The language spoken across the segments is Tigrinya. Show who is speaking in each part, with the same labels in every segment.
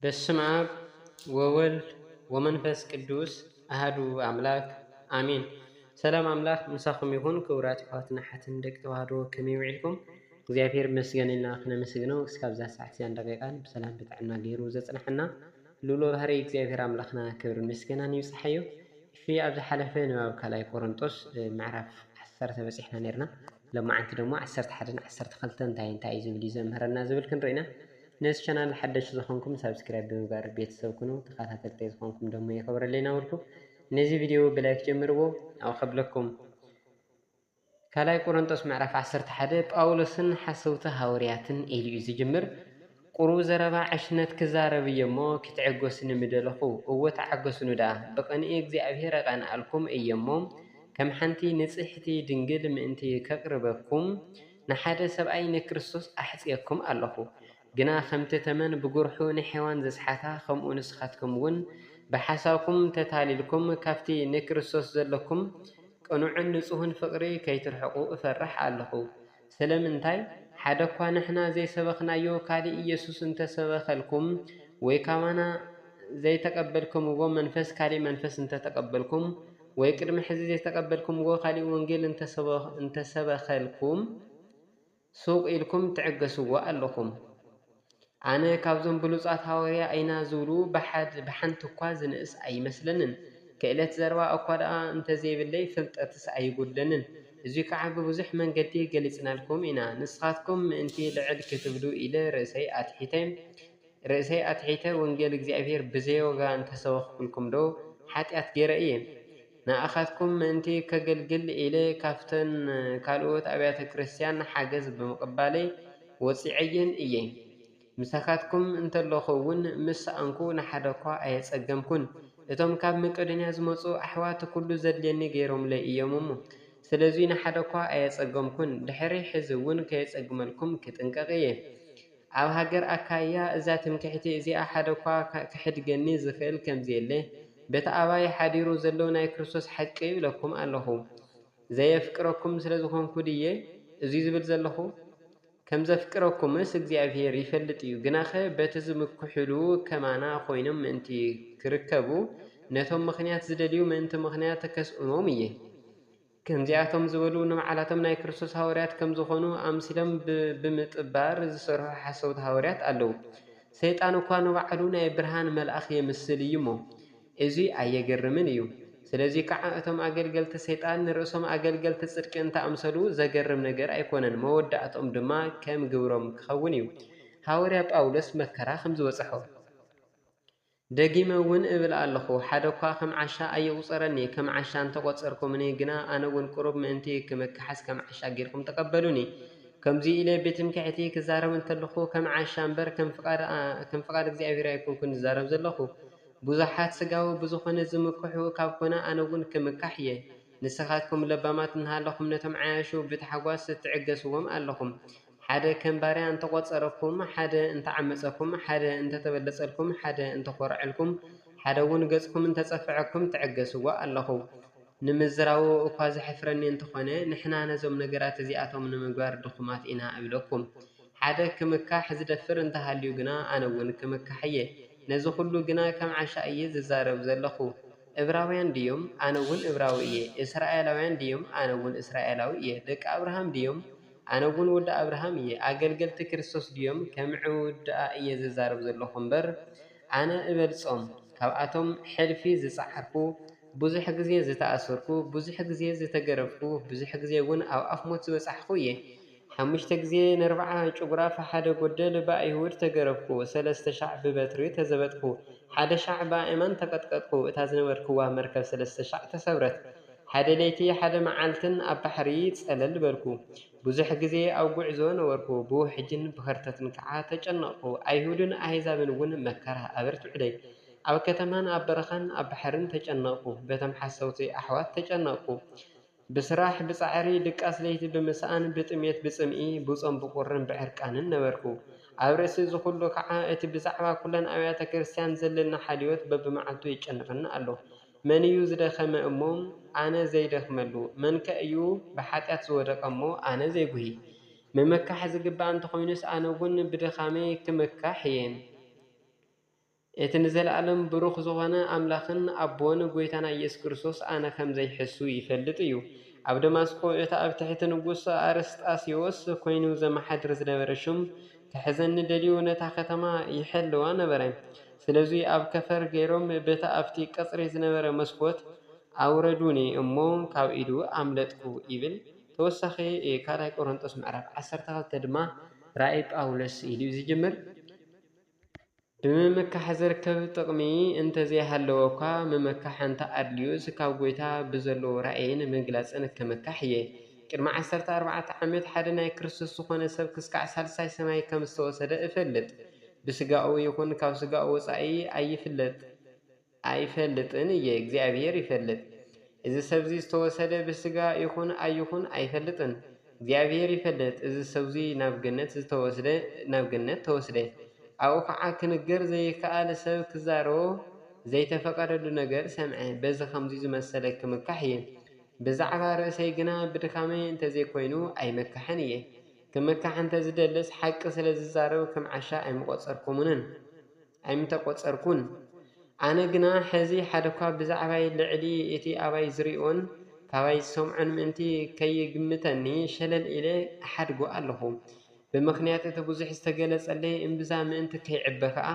Speaker 1: በስመ አብ ወወልድ ወመንፈስ ቅዱስ አህዱ አምላክ አሜን። ሰላም አምላክ ምሳኹም ይኹን ክቡራት ይሕዋትና ሓትን ደቂ ተዋህዶ ከመይ ውዒልኩም? እግዚኣብሔር ይመስገን ኢልና ክነመስግነው እስካብዛ ሰዓት እዚኣ ደቂቃን ብሰላም ብጥዕና ገይሩ ዘፅንሐና ልኡለ ባህርይ እግዚኣብሔር ኣምላኽና ክብርን ምስጋናን ይብጽሓዮ። እሺ ኣብ ዝሓለፈ ንባብ ካልኣይ ቆሮንጦስ ምዕራፍ ዓሰርተ በጺሕና ኔርና። ሎማዓንቲ ደሞ ዓሰርተ ሓደን ዓሰርተ ክልተን እንታይ እንታይ እዩ ዝብል እዩ ዘምህረና ዝብል ክንርኢ ኢና። ነዚ ቻናል ሓደሽቲ ዝኾንኩም ሳብስክራይብ ብምግባር ቤተሰብ ኩኑ። ተኸታተልተይ ዝኾንኩም ደሞ የኽብረለይ ናበልኩ ነዚ ቪድዮ ብላይክ ጀምርዎ። ያው ከብለኩም ካልኣይ ቆረንጦስ ምዕራፍ ዓሰርተ ሓደ ጳውሎስን ሓሰውቲ ሃወርያትን ኢሉ እዩ ዝጅምር። ቁሩብ ዘረባ ዕሽነት ክዛረብ እየ እሞ ክትዕገሱኒ ምደለኹ። እወ ተዓገሱኒ ደኣ፣ ብቕንኢ እግዚኣብሔር እቐንኣልኩም እየ እሞ፣ ከም ሓንቲ ንጽሕቲ ድንግል ምእንቲ ከቕርበኩም፣ ንሓደ ሰብኣይ ንክርስቶስ ኣሕጽየኩም ኣለኹ። ግና ከምቲ ተመን ብጉርሑ ንሔዋን ዘስሓታ ከምኡ ንስኻትኩም እውን ብሓሳብኩም ተታሊልኩም ካብቲ ንክርስቶስ ዘለኩም ቅኑዕን ንጹህን ፍቕሪ ከይትርሕቁ እፈርሕ ኣሎኹ። ስለምንታይ? ሓደ እኳ ንሕና ዘይሰበኽናዮ ካልእ ኢየሱስ እንተ ሰበኸልኩም ወይ ካባና ዘይተቀበልክምዎ መንፈስ ካልእ መንፈስ እንተ ተቀበልኩም ወይ ቅድሚ ሕዚ ዘይተቀበልክምዎ ካልእ ወንጌል እንተ ሰበኸልኩም ሱቅ ኢልኩም ትዕገስዎ ኣለኹም። ኣነ ካብዞም ብሉጻት ሃወርያ ኢና ዝብሉ ብሓድ ብሓንቲ እኳ ዝንእስ ኣይመስለንን። ክእለት ዘረባ እኳ ደኣ እንተ ዘይብለይ ፍልጠትስ ኣይጉድለንን። እዙይ ከዓ ብብዙሕ መንገዲ ገሊጽናልኩም ኢና። ንስኻትኩም ምእንቲ ልዕል ክትብሉ ኢለ ርእሰይ ኣትሒተ ርእሰይ ኣትሒተ ወንጌል እግዚኣብሔር ብዘይዋጋ እንተ ሰበኽኩልኩምዶ ሓጢኣት ገይረ እየ? ንኣኻትኩም ምእንቲ ከገልግል ኢለ ካብተን ካልኦት ኣብያተ ክርስቲያን ሓገዝ ብምቕባለይ ወጺዐየን እየ። ምሳኻትኩም እንተለኹ እውን ምስ ሰኣንኩ ንሓደኳ ኣየጸገምኩን። እቶም ካብ መቄዶንያ ዝመጹ ኣሕዋት ኩሉ ዘድልየኒ ገይሮምለይ እዮም እሞ ስለዙይ ንሓደኳ ኣየጸገምኩን። ድሕሪ ሕዚ እውን ከየጸግመልኩም ክጥንቀቕ እየ። ኣብ ሃገር ኣካይያ እዛ ትምክሕቲ እዚኣ ሓደ'ኳ ኺሕድገኒ ዚኽእል ከም ዜለ፣ በቲ ኣባይ ሓዲሩ ዘሎ ናይ ክርስቶስ ሓቂ እብለኩም ኣሎኹ። ዘየፍቅረኩም ስለ ዝዀንኩ ድየ እዙይ ዝብል ዘሎኹ? ከም ዘፍቅረኩምስ እግዚኣብሄር ይፈልጥ እዩ። ግናኸ በቲ ዚምክሑሉ ከማና ዀይኖም ምእንቲ ኺርከቡ፣ ነቶም ምኽንያት ዚደልዩ ምእንቲ ምኽንያት ከስእኖም እየ። ከምዚኣቶም ዝበሉ ንባዕላቶም ናይ ክርስቶስ ሃዋርያት ከም ዝኾኑ ኣምሲሎም ብምጥባር ዝሰርሑ ሓሰውቲ ሃዋርያት ኣለዉ። ሰይጣን እኳ ንባዕሉ ናይ ብርሃን መልኣኽ የምስል እዩሞ፣ እዙይ ኣየገርምን እዩ። ስለዙይ ከዓ እቶም ኣገልገልቲ ሰይጣን ንርእሶም ኣገልገልቲ ጽድቂ እንተኣምሰሉ ዘገርም ነገር ኣይኮነን፣ መወዳእትኦም ድማ ከም ግብሮም ክኸውን እዩ። ሃዋርያ ጳውሎስ መከራ ከም ዝበጽሖ። ደጊመ እውን እብል ኣለኹ፣ ሓደ እኳ ኸም ዓሻ ኣይቝጸረኒ። ከም ዓሻ እንተ ቈጸርኩምኒ ግና፣ ኣነ እውን ቍሩብ ምእንቲ ኽምክሓስ ከም ዓሻ ጌርኩም ተቐበሉኒ። ከምዙይ ኢለ ብትምክሕቲ ክዛረብ እንተለኹ፣ ከም ዓሻ እምበር፣ ከም ፍቓድ እግዚኣብሄር ኣይኰንኩን ዝዛረብ ዘለኹ። ብዙሓት ሥጋዊ ብዝዀነ ዝምክሑ ካብ ኰነ፣ ኣነ እውን ክምካሕ እየ። ንስኻትኩም ለባማት እንሃለኹም፣ ነቶም ዓያሹ ብታሕጓስ ትዕገሥዎም ኣለኹም። ሓደ ከም ባርያ እንተቖጸረኩም፣ ሓደ እንተዓመጸኩም፣ ሓደ እንተተበለጸልኩም፣ ሓደ እንተኾርዐልኩም፣ ሓደ ውን ገጽኩም እንተጸፈዐኩም ትዕገስዎ ኣለኹም። ንምዝራቡ እኳ ዘሕፍረኒ እንተኾነ ንሕና ነዞም ነገራት እዚኣቶም ንምግባር ድኹማት ኢና እብለኩም። ሓደ ክምካሕ ዝደፍር እንተሃልዩ ግና ኣነ ውን ክምካሕ እየ። ነዚ ኩሉ ግና ከም ዓሻ እየ ዝዛረብ ዘለኹ። እብራውያን ድዮም? ኣነ ውን እብራዊ እየ። እስራኤላውያን ድዮም? ኣነ ውን እስራኤላዊ እየ። ደቂ ኣብርሃም ድዮም? ኣነ ውን ወዲ ኣብርሃም እየ ኣገልገልቲ ክርስቶስ ድዮም ከምዕው ድኣ እየ ዝዛረብ ዘለኩ እምበር ኣነ እበልጾም ካብኣቶም ሕልፊ ዝጸዓርኩ ብዙሕ ግዜ ዝተኣሰርኩ ብዙሕ ግዜ ዝተገረፍኩ ብዙሕ ግዜ ውን ኣብ ኣፍ ሞት ዝበጻሕኩ እየ ሓሙሽተ ግዜ ነርብዓ ጭጉራፍ ሓደ ጎደል ብኣይሁድ ተገረፍኩ ሰለስተ ሻዕ ብበትሪ ተዘበጥኩ ሓደ ሻዕ ብኣእማን ተቀጥቀጥኩ እታ ዝነበርክዋ መርከብ ሰለስተ ሻዕ ተሰብረት ሓደ ለይቲ ሓደ መዓልትን ኣብ ባሕሪ ጸለል በልኩ። ብዙሕ ግዜ ኣብ ጕዕዞ ነበርኩ፣ ብውሕጅን ብኸርተትን ከኣ ተጨነቕኩ። ኣይሁድን ኣህዛብን እውን መከራ ኣበርቲዑለይ። ኣብ ከተማን ኣብ በረኻን ኣብ ባሕርን ተጨነቕኩ። በቶም ሓሰውቲ ኣሕዋት ተጨነቕኩ። ብስራሕ ብጻዕሪ ድቃስ ለይቲ ብምስኣን ብጥሜት ብጽምኢ ብጾም ብቍርን ብዕርቃንን ነበርኩ። ኣብ ርእሲ እዚ ዅሉ ኸኣ እቲ ብዛዕባ ኵለን ኣብያተ ክርስትያን ዘለኒ ሓልዮት በብመዓልቱ የጨንቐኒ ኣሎ። መን እዩ ዝደኸመ እሞ ኣነ ዘይደኽመሉ? መንከ እዩ ብሓጢኣት ዝወደቐ እሞ ኣነ ዘይጉሂ? ምምካሕ ዝግብኣ እንተኾይኑስ ኣነ እውን ብድኻመይ ክምካሕ እየ። እቲ ንዘለኣለም ብሩኽ ዝኾነ ኣምላኽን ኣቦን ጎይታና ኢየሱስ ክርስቶስ ኣነ ከም ዘይሕሱ ይፈልጥ እዩ። ኣብ ደማስቆ እቲ ኣብ ትሕቲ ንጉስ ኣርስጣሴዎስ ኮይኑ ዘመሓድር ዝነበረ ሹም ክሕዘኒ ደልዩ ነታ ከተማ ይሕልዋ ነበረ። ስለዙይ ኣብ ከፈር ገይሮም በቲ ኣብቲ ቀጽሪ ዝነበረ መስኮት ኣውረዱኒ እሞ ካብ ኢዱ ኣምለጥኩ ይብል። ተወሳኺ ካልኣይ ቆሮንጦስ ምዕራፍ ዓሰርተ ክልተ ድማ ራእይ ጳውሎስ ኢሉ እዩ ዝጅምር። ብምምካሕ ዝርከብ ጥቕሚ እንተዘይሃለወኳ፣ ምምካሕ እንተኣድልዩስ ካብ ጐይታ ብዘለዎ ራእይን ምግላጽን ክምካሕ እየ። ቅድሚ ዓሰርተ ኣርባዕተ ዓመት ሓደ ናይ ክርስቶስ ዝኾነ ሰብ ክስካዕ ሳልሳይ ሰማይ ከምዝተወሰደ እፈልጥ። ብስጋኡ ይኹን ካብ ስጋኡ ወጻኢ ኣይፍለጥ። ኣይፈልጥን እየ እግዚኣብሔር ይፈልጥ እዚ ሰብዚ ዝተወሰደ ብስጋ ይኹን ኣይኹን ኣይፈልጥን እግዚኣብሔር ይፈልጥ እዚ ሰብዙይ ናብ ገነት ዝተወስደ ናብ ገነት ተወስደ ኣብኡ ከዓ ክንገር ዘይከኣል ሰብ ክዛረቦ ዘይተፈቀደሉ ነገር ሰምዐ በዚ ከምዙይ ዝመሰለ ክምካሕ እየ ብዛዕባ ርእሰይ ግና ብድካመይ እንተዘይኮይኑ ኣይምካሕን እየ ክምካሕ እንተዝደልስ ሓቂ ስለዝዛረብ ከም ዓሻ ኣይምቆፀርኩምንን ኣይምተቈጸርኩን። ኣነ ግና ሕዚ ሓደኳ ብዛዕባይ ልዕሊ እቲ ኣባይ ዝርእዮን ካባይ ዝሰምዖን ምእንቲ ከይግምተኒ ሸለል ኢለ እሓድጎ ኣሎኹ። ብምኽንያት እቲ ብዙሕ ዝተገለጸለይ እምብዛ ምእንቲ ከይዕበ ከኣ፣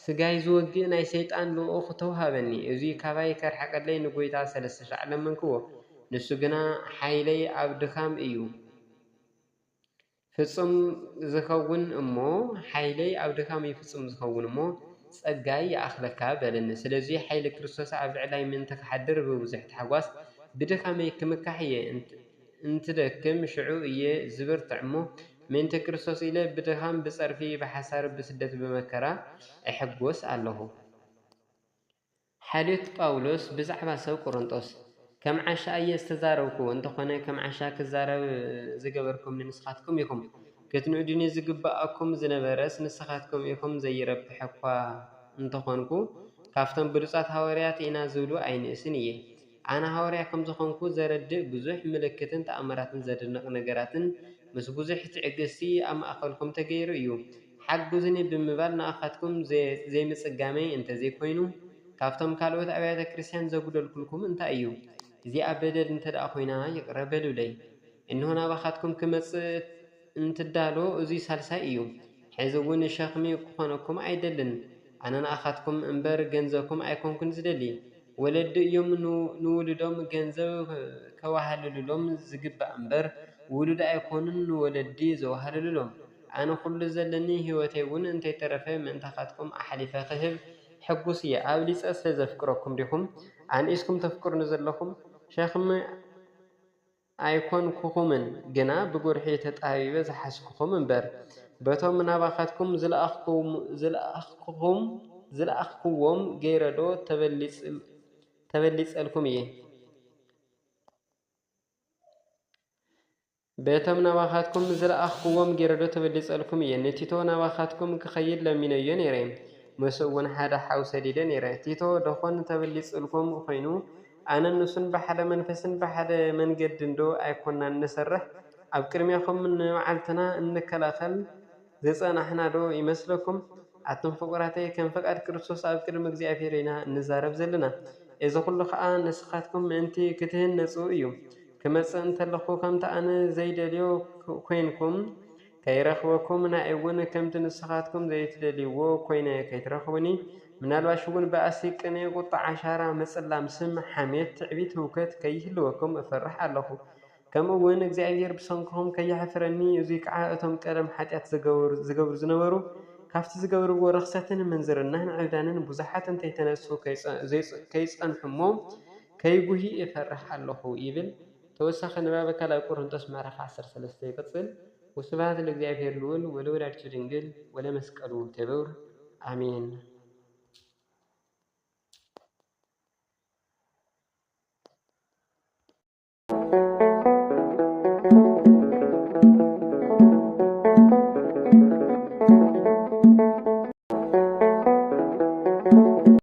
Speaker 1: ስጋይ ዝወግእ ናይ ሰይጣን ልኡኽ ተውሃበኒ። እዙይ ካባይ ከርሕቀለይ ንጐይታ ሠለስተ ሻዕ ለመንክዎ፣ ንሱ ግና ሓይለይ ኣብ ድኻም እዩ። ፍጹም ዝኸውን እሞ ሓይለይ ኣብ ድኻም እዩ ፍጹም ዝኸውን እሞ ጸጋይ ይኣኽለካ በለኒ። ስለዙይ ሓይሊ ክርስቶስ ኣብ ልዕላይ ምእንቲ ክሓድር ብብዙሕ ታሕጓስ ብድኻመይ ክምካሕ እየ። እንትደክም ሽዑ እየ ዝብርትዕ እሞ ምእንቲ ክርስቶስ ኢለ ብድኻም ብጸርፊ ብሓሳር ብስደት ብመከራ እሕጎስ ኣለኹ። ሓልዮት ጳውሎስ ብዛዕባ ሰብ ቈረንቶስ፣ ከም ዓሻ እየ ዝተዛረብኩ፣ እንተኾነ ከም ዓሻ ክዛረብ ዝገበርኩምኒ ንስኻትኩም ኢኹም፣ ክትንእዱኒ ዝግብኣኩም ዝነበረስ ንስኻትኩም ኢኹም፣ ዘይረብሕ እኳ እንተኾንኩ፣ ካብቶም ብሉጻት ሃዋርያት ኢና ዝብሉ ኣይንእስን እየ። ኣነ ሃዋርያ ከም ዝኾንኩ ዘረድእ ብዙሕ ምልክትን ተኣምራትን ዘደንቕ ነገራትን ምስ ብዙሕ ትዕግስቲ ኣብ ማእከልኩም ተገይሩ እዩ። ሓግዙኒ ብምባል ንኣኻትኩም ዘይምጽጋመይ እንተ ዘይኮይኑ ካብቶም ካልኦት ኣብያተ ክርስትያን ዘጉደልኩልኩም እንታይ እዩ? እዚኣ በደል እንተ ደኣ ኮይና ይቕረ በሉለይ። እንሆ ናባኻትኩም ክመጽእ እንትዳሎ እዙይ ሳልሳይ እዩ ሐዚ እውን ሸኽሚ ክኾነኩም ኣይደልን ኣነ ንኣኻትኩም እምበር ገንዘኩም ኣይኮንኩን ዝደሊ ወለዲ እዮም ንውሉዶም ገንዘብ ከዋህልሉሎም ዝግባእ እምበር ውሉድ ኣይኮኑን ንወለዲ ዘዋህልሉሎም ኣነ ኩሉ ዘለኒ ሂወተይ እውን እንተይተረፈ ምእንታኻትኩም ኣሕሊፈ ክህብ ሕጉስ እየ ኣብሊፀ ስለዘፍቅረኩም ዲኹም ኣንኢስኩም ተፍቅሩኒ ዘለኹም ሸኽሚ ኣይኰንኩኹምን፣ ግና ብጕርሒ ተጣቢበ ዝሓዝኩኹም እምበር፣ በቶም ናባኻትኩም ዝለኣኽኩኹም ዝለኣኽክዎም ገይረዶ ተበሊጸልኩም እየ? ንቲቶ ናባኻትኩም ኪኸይድ ለሚነዮ ነይረ፣ ምስኡውን ሓደ ሓው ሰዲደ ነይረ። ቲቶ ደዀን ተበሊጹልኩም ዀይኑ? ኣነን ንሱን ብሓደ መንፈስን ብሓደ መንገድንዶ ኣይኮናን ንሰርሕ? ኣብ ቅድሜኹም ንመዓልትና እንከላኸል ዝጸናሕናዶ ይመስለኩም? ኣቱም ፍቁራተይ ከም ፍቃድ ክርስቶስ ኣብ ቅድሚ እግዚኣብሔር ኢና እንዛረብ ዘለና። እዚ ኩሉ ከኣ ንስኻትኩም ምእንቲ ክትህነጹ እዩ። ክመጽእ እንተለኹ ከምቲ ኣነ ዘይደልዮ ኮይንኩም ከይረኽበኩም ናይ'ውን ከምቲ ንስኻትኩም ዘይትደልይዎ ኮይነ ከይትረኽቡኒ ምናልባሽ'ውን ባእሲ፣ ቅንኢ፣ ቁጥዓ፣ ሻራ፣ ምጽላም ስም፣ ሓሜት፣ ትዕቢት፣ ህውከት ከይህልወኩም እፈርሕ ኣለኹ። ከምኡ'ውን እግዚኣብሄር ብሰንክኹም ከየሕፍረኒ እዙይ ከዓ እቶም ቀደም ሓጢኣት ዝገብሩ ዝነበሩ ካብቲ ዝገብርዎ ርኽሰትን ምንዝርናን ዕብዳንን ብዙሓት እንተይተነሱ ከይጸንሑ'ሞ ከይጉሂ እፈርሕ ኣለኹ ይብል። ተወሳኺ ንባበ ካልኣይ ቆሮንጦስ ምዕራፍ ዓሰርተ ሰለስተ ይቅጽል ወስብሃት ለእግዚኣብሔር ልዑል ወለወላዲቱ ድንግል ወለመስቀሉ ክቡር ኣሜን።